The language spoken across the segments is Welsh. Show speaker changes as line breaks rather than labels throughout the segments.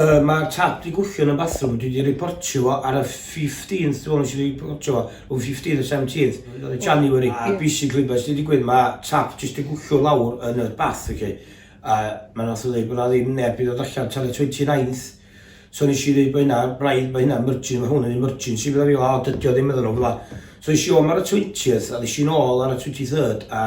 Yy mae'r tap di gwthio yn y bathroom dwi di riportio fo ar y fifteenth dwi me'wl nes i riportio fo rwng fifteenth a seventeenth o January a basically be' sy di digwydd ma' tap jyst di gwthio lawr yn yr bath oce a ma' nath o ddeud bo' na ddim neb di dod allan tan y twenty ninth so nes i ddeud bo' hynna braidd bo' hynna mergin ma' hwn yn emergency medda fi o dydi o ddim medda nhw fela so es i om ar y twentieth a ddes i nôl ar y twenty third a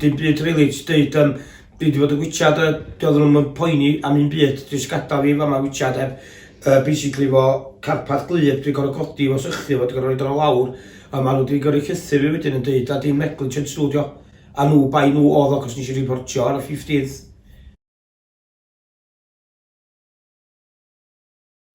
Dim byd rili jyst deud yym dwi 'di bod yn gwitsiad a doedd nhw'm yn poeni am un byd jyst gadael fi fama gwitsiad heb yy basically efo carpad gwlyb dwi'n gorfod codi fo sychu fo dwi'n gorfod roid o lawr a maen nhw 'di gyrru llythyr fi wedyn yn deud a dim negligence nhw 'di o a nhw bai nhw oedd o achos nes i riportio ar y 15th.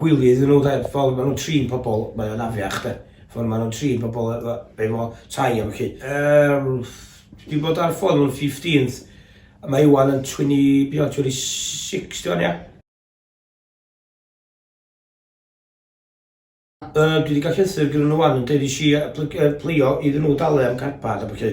Gwylio iddyn nhw 'de, fel ma' nhw'n trin pobl, mae o'n afiach 'de, ffordd ma' nhw'n trin pobl e- e- efo tai a ballu. Yym, dwi 'di bod ar ffôn am fifteenth, a mae ŵan yn tweny, be' o, tweny sics di ŵan ia? Yy, dwi 'di ga'l llythyr gynno nhw ŵan yn deud nesh i yy plyg- yy plygio iddyn nhw dalu am carpad a ballu.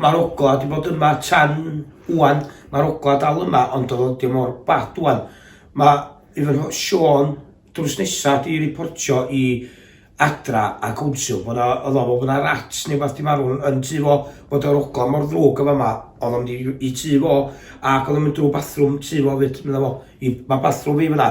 Mae'r ogla wedi bod yma tan wan. Mae'r ogla dal yma, ond oedd o ddim mor bad wan. Mae i fy Sean drws nesaf di reportio i adra a cwnsel bod o, oedd o bod yna rats neu beth di marw yn tu fo, bod o'r ogla mor ddrwg yma yma, oedd o'n mynd i tu fo, ac oedd o'n mynd drwy bathroom tu fo fyd, meddwl fo, i, mae bathroom fi fyna.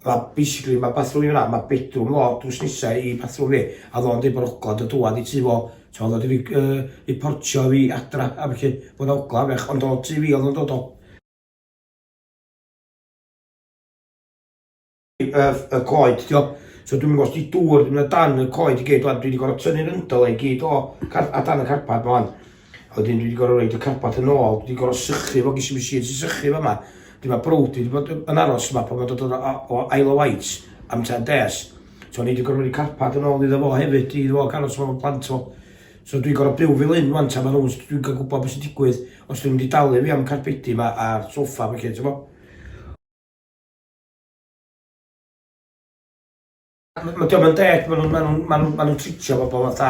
Mae basically mae bathroom fi fan'na, mae bedroom fo drws nesa i bathroom fi, a oedd o'n deud bod ogla do dŵad i tŷ fo, so oedd o wedi fi yy riportio fi adra a felly bod yna ogla fech, ond o tŷ fi oedd o'n dod o. Y y coed ti gwbod, so dwi'm yn gwybod os 'di dŵr 'di mynd o dan y coed i gyd ŵan, dwi 'di gorfod tynnu'r yndl i gyd o car- a dan y carpad 'ma ŵan, A wedyn dwi wedi gorfod rhoi y carpet yn ôl, dwi wedi gorfod sychu fo, ges i machine sy'n sychu fo yma. Dwi mae brwd wedi bod yn aros yma pan mae'n dod o, o ail o waith am ten des. So ni wedi gorfod rhoi carpet yn ôl iddo fo hefyd, iddo fo gael os fo'n plant o. So dwi'n gorfod byw fel hyn wan, tan mae nhw'n, dwi'n cael gwybod beth sy'n digwydd os dwi'n mynd i dalu fi am carpedi yma a'r sofa felly, ti'n bo? Mae diolch yn deg, maen nhw'n ma nhw, ma nhw, ma nhw tritio bobl fatha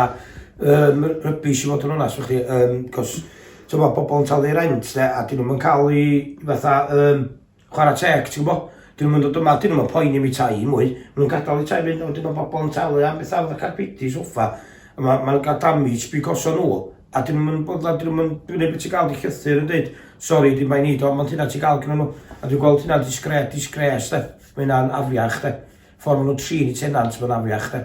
um, rybys i fod yn onast fy chi, um, cos ti'n gwybod, bobl yn talu rent, de, a dyn nhw'n cael ei fatha um, chwarae teg, ti'n gwybod? Dyn nhw'n dod yma, dyn nhw'n poen i mi tai i mwy, maen nhw'n gadael i tai fynd, a wedyn mae bobl yn talu am bethau fatha carpeti, soffa, a maen ma nhw'n cael damage because o nhw. A dyn nhw'm yn boddhad, dyn nhw'm yn... Dwi'n gwneud be ti'n gael, di llythyr yn dweud, sori, dim bai ni, do, ond hynna ti'n gael gyda nhw. A dwi'n gweld hynna'n disgre, disgres, de. Mae hynna'n afiach, de. Ffordd maen nhw'n trin i tenant, mae'n afiach, de.